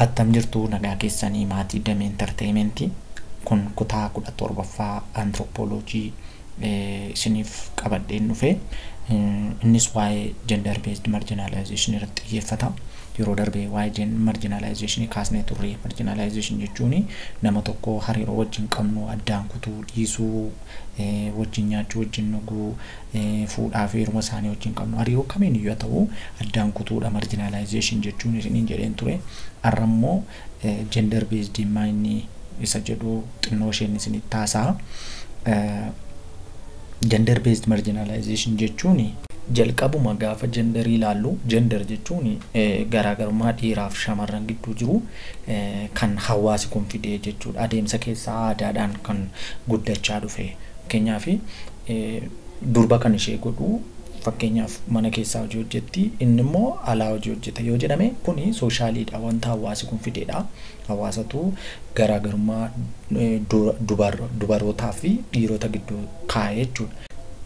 Attam jirtu nagaa keessanii maatii Damee Entertainment kun kutaa 17ffaa Anthropology isiniif qabadheen dhufe innis waa'ee gender based marginalization irratti xiyyeeffata yeroo darbe waa'ee marginalization kaasnee turre marginalization jechuun nama tokko hariiroo wajjin qabnu addaan kutuu dhiisuu wajjin nyaachuu wajjin dhuguu fuudhaa fi heeruma isaanii wajjin qabnu hariiroo kamiin iyyuu haa ta'u addaan kutuudha marginalization jechuun isiniin jedheen ture har'a immoo gender based inni isa jedhu xinnoo isheen isinitti taasaa gender based marginalization jechuun jalqabuma gaafa gender ilaallu gender jechuun garaagarummaa dhiiraa fi shamarran gidduu jiru kan hawaasi kun fidee jechuudha adeemsa keessaa aadaadhaan kan guddachaa dhufe fakkeenyaaf durba kan ishee godhu fakkeenyaaf mana keessaa hojii hojjetti inni immoo alaa hojii hojjeta yoo jedhame kuni sooshaaliidha wanta hawaasi kun fideedha hawaasatu garaagarummaa eh, du- dubar- dubarootaa fi dhiirota gidduu kaa'e jechuudha.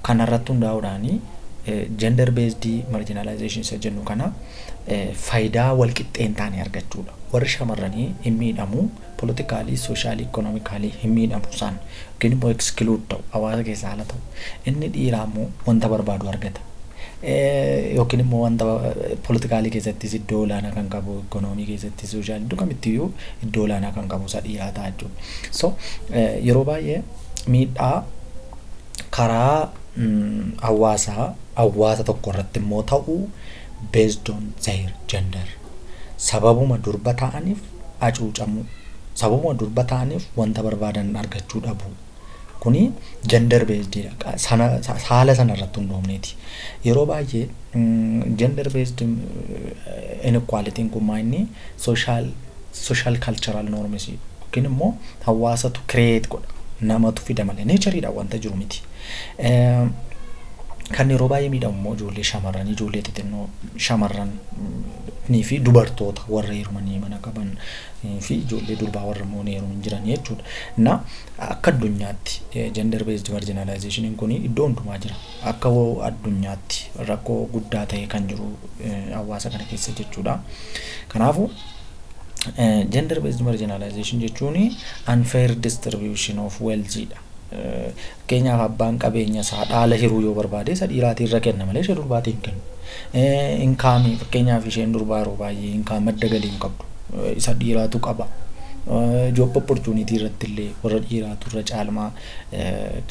Kanarratti hundaa'uudhaan gender based marginalization isa jennu kana eh, faayidaa walqixxee hin taane argachuudha. Warri shamarranii hin miidhamu, politically, socially, economically hin miidhamu isaan yookiin immoo exclude ta'u, hawaasa keessaa ala ta'u. Inni dhiiraa immoo wanta barbaadu argata. Yookiin immoo wanta politically keessattis iddoo olaanaa kan qabu, economy keessattis, socially iddoo kamittiyyuu iddoo olaanaa kan qabu isa dhiiraa ta'a jechuudha. So yeroo baay'ee miidhaa karaa hawaasaa hawaasa tokko irratti immoo ta'u based on their gender sababuma durba ta'aniif hacuucamuu, sababuma durba ta'aniif wanta barbaadan argachuu dhabuu. Kuni gender based dha. Qa- sana- sa- Saala sana irratti hundoofneeti. Yeroo baay'ee mm, gender based mm, inequality'n kun maa inni social, social cultural norms yookiin immoo hawaasatu create godha. Namatu fida malee. Nature dha wanta jiru miti. Eh, Kan yeroo baay'ee miidhamu immoo ijoollee shamarranii, ijoollee xixinnoo shamarran mm, ni fi dubartoota warra heerumanii mana qaban fi ijoollee durbaa warra immoo ni heerumin jiran jechuudha. Na akka addunyaatti gender based marginalization kun iddoo hundumaa jira. Akka addunyaatti rakkoo guddaa ta'ee kan jiru hawaasa kana keessa jechuudha. Kanaafuu gender based marginalization jechuun unfair distribution of wealth dha. Fakkeenyaaf abbaan qabeenya isaa dhaala hiruu yoo barbaade isa dhiiraatii irra kenna malee ishee durbaatii hin kennu. Inkaamii fakkeenyaaf isheen durbaa yeroo baay'ee inkaam madda galii hin qabdu. Isa dhiiraatu qaba. Job opportunity irratti illee warra dhiiraatu irra caalmaa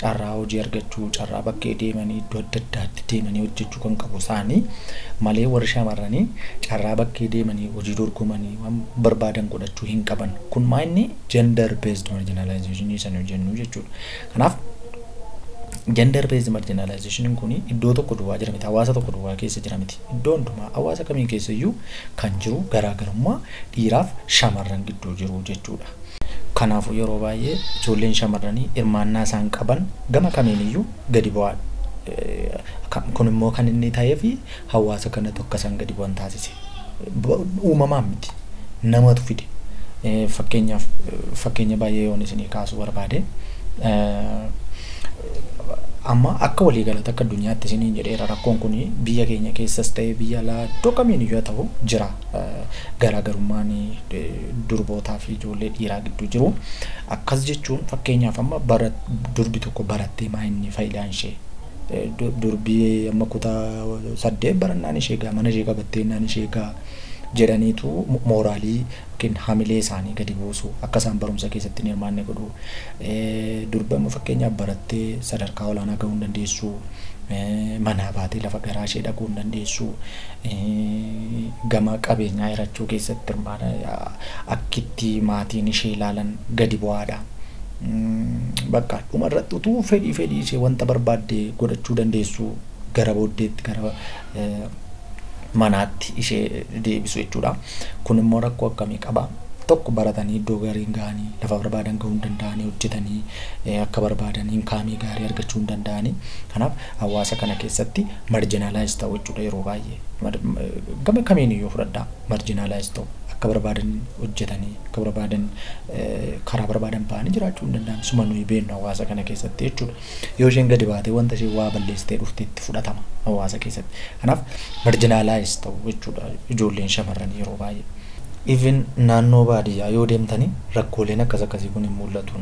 carraa hojii argachuu, carraa bakkee deemanii iddoo adda addaatti deemanii hojjechuu kan qabu isaanii malee warri shamarranii carraa bakkee deemanii hojii dorgomanii waan barbaadan godhachuu hin qaban. Kun maa inni gender based marginalization isa nu jennu jechuudha. Kanaaf gender based marginalization kun iddoo tokko duwwaa jira miti, hawaasa tokko duwwaa keessa jira miti. Iddoo hundumaa hawaasa kamii keessa iyyuu kan jiru garaagarummaa dhiiraaf shamarran gidduu jiru jechuudha. Kanaafuu yeroo baay'ee ijoolleen shamarranii hirmaannaa isaan qaban gama kamiin iyyuu gadi bu'aadha. Kun immoo kan inni ta'eef Hawaasa kanatu akka isaan gadi bu'an taasise. Uumamaan miti. Namatu fide. Fakkeenyaaf fakkeenya baay'ee yoon isinii kaasuu barbaade amma akka walii galatti akka addunyaatti isiniin jedheera rakkoon kun biyya keenya keessas ta'ee biyya alaa iddoo kamiin iyyuu haa ta'u jira garaagarummaan durbootaa fi ijoollee dhiiraa gidduu jiru. Akkas jechuun fakkeenyaaf amma durbi tokko barattee maa inni faayidaan ishee durbii amma kutaa saddeet barannaan ishee egaa mana ishee qabattee innaan ishee egaa jedhaniitu mooraalii yookiin hamilee isaanii gadi buusu akka isaan barumsa keessatti hin hirmaanne godhu durbi amma fakkeenyaaf barattee sadarkaa olaanaa gahuu hin dandeessu manaa baatee lafa garaa ishee dhaquu hin dandeessu gama qabeenyaa hirachuu keessatti hirmaata akkitti maatiin ishee ilaalan gadi bu'aadha. Bakka dhuma irratti utuu fedhii fedhii ishee wanta barbaadde godhachuu dandeessu gara booddeetti gara manaatti ishee deebisu jechuudha. Kun immoo rakkoo akkamii qaba? Tokko baratanii iddoo gaarii hin ga'anii lafa barbaadan ga'uu hin danda'anii hojjetanii akka barbaadan inkaamii gaarii argachuu hin danda'anii. Kanaaf hawaasa kana keessatti marjinaalaayis ta'u jechuudha yeroo baay'ee. Gama kamiin iyyuu fudhadhaa marjinaalaayis ta'u akka barbaadan hojjetanii akka barbaadan karaa barbaadan ba'anii jiraachuu hin danda'an. Suma nuyi beennu hawaasa kana keessatti jechuudha. Yoo isheen gadi baatee wanta isheen waa balleessitee dhufte itti fudhatama hawaasa keessatti. Kanaaf marginalize ta'u jechuudha ijoolleen shamarranii yeroo baay'ee. Even naannoo baadiyyaa yoo deemtanii rakkooleen akkas akkasii kun hin mul'atu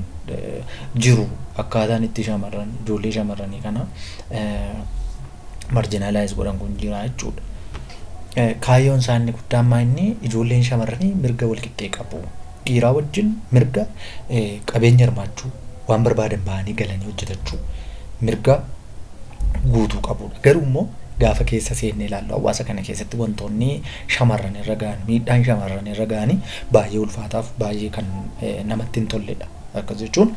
jiru akkaataan itti shamarran ijoollee shamarranii kana marginalize godhan kun jira jechuudha. Kaayyoon isaa inni guddaan maa inni ijoolleen shamarranii mirga walqixxee qabu. Dhiiraa wajjin mirga qabeenya hirmaachuu waan barbaadan bahanii galanii hojjetachuu mirga guutuu qabudha. Garuu immoo gaafa keessa seenne ilaallu hawaasa kana keessatti wantoonni shamarran irra gahan miidhaan shamarran irra gahanii baay'ee ulfaataaf baay'ee kan namatti hin tolledha. Akkas jechuun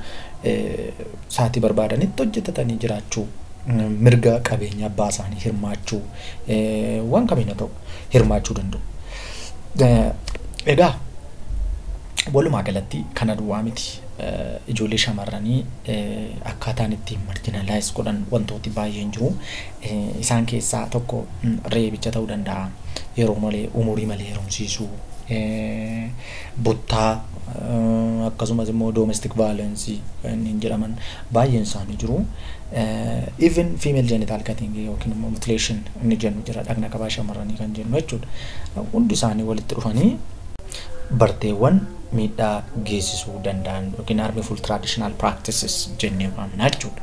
saatii barbaadanitti hojjetatanii jiraachuu mirga qabeenya abbaa isaanii hirmaachuu waan kamiin haa ta'u hirmaachuu danda'u. Egaa walumaa galatti kana duwwaa miti ijoollee shamarranii akkaataan ittiin marginalize godhan wantooti baay'een jiru. Isaan keessaa tokko reebicha ta'uu danda'a. Yeroo malee umurii malee heerumsiisuu. buttaa akkasumas immoo domestic violence kanneen jedhaman baay'een isaanii jiru. Even female genital cutting yookiin immoo mutilation inni jennu jira dhagna qabaa shamarranii kan jennu jechuudha. Hundi isaanii walitti dhufanii barteewwan miidhaa geessisuu danda'an yookiin harmful traditional practices jennee waamna jechuudha.